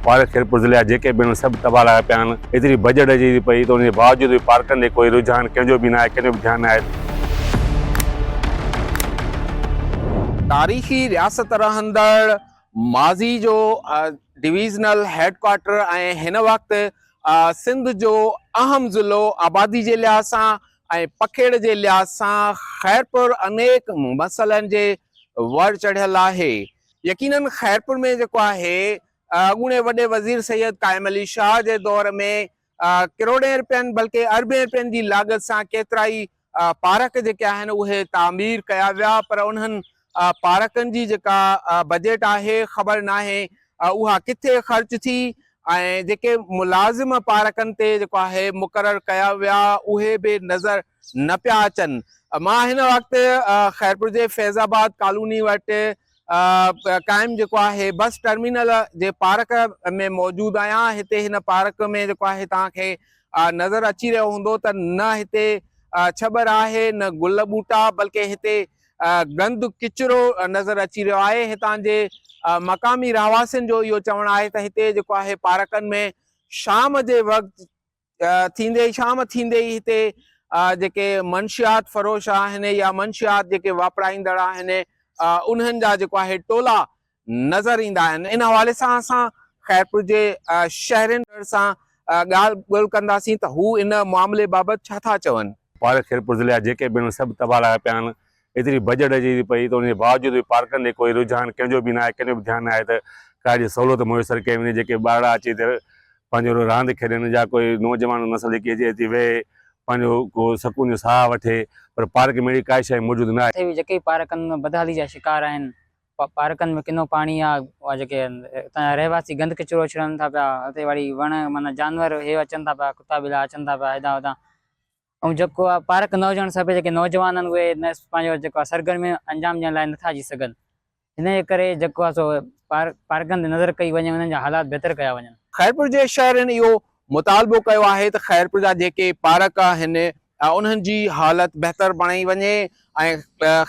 Park Khairpur ضلعي جا جيڪي به آهن سڀ تباهه لڳا پيا آهن ايتري بجيٽ اچي ٿي پئي ته ان جي باوجود به پارڪن ڏي ڪوئي رجحان ڪنهن جو به ناهي ڪنهن جو به ڌيان ناهي. تاريخي رياست رهندڙ ماضي جو ڊويزنل هيڊ ڪوارٽر ۽ هن وقت سنڌ جو اهم ضلعو آبادي جي لحاظ سان ۽ پکيڙ جي لحاظ سان خيرپور انيڪ مسئلن جي ور چڙهيل آهي. يقينن خيرپور ۾ جيڪو آهي اڳوڻي وڏي وزير سيد قائم علي شاهه جي دور ۾ ڪروڙين رپين بلڪه اربين رپين جي لاڳت سان ڪيترائي پارڪ جيڪي آهن اهي تعمير ڪيا ويا پر انهن پارڪن جي جيڪا بجيٽ آهي خبر ناهي اها ڪٿي خرچ ٿي ۽ جيڪي ملازم پارڪن تي جيڪو آهي مقرر ڪيا ويا اهي به نظر نه پيا اچن مان هن وقت خيرپور جي فيض آباد ڪالوني وٽ قائم جيڪو آهي بس ٽرمينل جي پارڪ ۾ موجود آهيان هتي هن پارڪ ۾ جيڪو آهي توهان کي نظر اچي رهيو هوندو ته نه هتي ڇٻر آهي نه گل ٻوٽا بلڪه هتي گند ڪچرو نظر اچي رهيو آهي هتان جي مقامي رهواسين جو اهو چوڻ آهي ته هتي جيڪو آهي پارڪن ۾ شام جي وقت ٿيندي ئي شام ٿيندي ئي هتي جيڪي منشيات فروش آهن يا منشيات جيڪي واپرائيندڙ آهن انهن جا جيڪو آهي ٽولا نظر ايندا آهن ان حوالي سان اسان خيرپور جي شهرين سان ڳالهه ٻولهه ڪنداسين ته هو ان معاملي بابت ڇا ٿا چون. پاڙي خيرپور ضلعي جا جيڪي به آهن سڀ تباهه لاء پيا آهن ايتري ڀڄ ڊڄ ٿي پئي ته ان جي باوجود به پارڪن ڏي ڪوئي رجحان ڪنهن جو به نه آهي، ڪنهن جو به ڌيان نه آهي ته ڪا اهڙي سهولت ميسر ڪئي وڃي جيڪي ٻارڙا اچي اتي پنهنجو راند کيڏن يا ڪوئي نوجوان نسل جيڪي اچي اتي ويهي پنهنجو ڪو سڪون جو ساهه وٺي پر پارڪ ۾ اهڙي ڪائي شيء موجود نه آهي. اٿي به جيڪي پارڪن ۾ بدحالي جا شڪار آهن، پارڪن ۾ ڪنو پاڻي يا اها جيڪي اتان جا رهواسي گند ڪچرو اڇلائن ٿا پيا، اتي واري وڻ معنيٰ جانور هي اچن ٿا پيا ڪتا ٻلا اچن ٿا پيا هيڏانهن هوڏانهن، ۽ جيڪو آهي پارک نه هجڻ سبب جيڪي نوجوان آهن اهي نه پنهنجو جيڪو آهي سرگرميون انجام ڏيڻ لاء نٿا اچي سگهن ان جي ڪري جيڪو آهي سو پارڪن تي نظر ڪئي وڃي انهن جا حالات بهتر ڪيا وڃن. خيرپور جي شهرين اهو مطالبو ڪيو آهي ته خيرپور جا جيڪي پارڪ آهن انهن جي حالت بهتر بڻائي وڃي ۽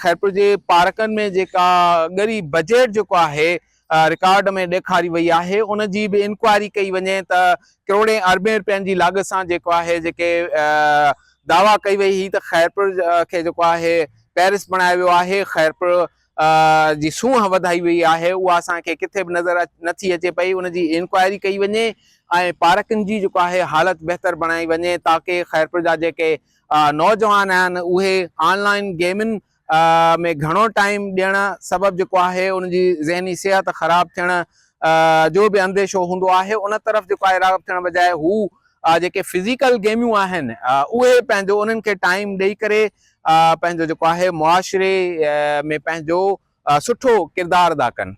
خيرپور جي پارڪن ۾ جيڪا ڳري بجيٽ جيڪو آهي رڪارڊ ۾ ڏيکاري وئي آهي ان جي به انڪوائري ڪئي وڃي ته ڪروڙين اربين رپين جي لاڳ سان جيڪو آهي جيڪي دعويٰ ڪئي وئي هئي ته خيرپور کي جيڪو آهي پيرس بڻايو ويو آهي خيرپور جي سونهن وڌائي وئي آهي اها اسان کي ڪٿي به نظر نٿي اچي پئي ان جي انڪوائري ڪئي وڃي ۽ پارڪن جي جيڪو آهي حالت بهتر بڻائي وڃي تاڪي خيرپور جا جيڪي نوجوان آهن اهي آن لائن گيمن ۾ گهڻو ٽائيم ڏيڻ سبب جيڪو آهي ان جي ذهني صحت خراب ٿيڻ جو به انديشو هوندو آهي ان طرف جيڪو آهي راغب ٿيڻ بجاء هو جيڪي فزيڪل گيميون آهن اهي پنهنجو انهن کي ٽائيم ڏئي ڪري پنهنجو جيڪو آهي معاشري ۾ پنهنجو سٺو ڪردار ادا ڪن.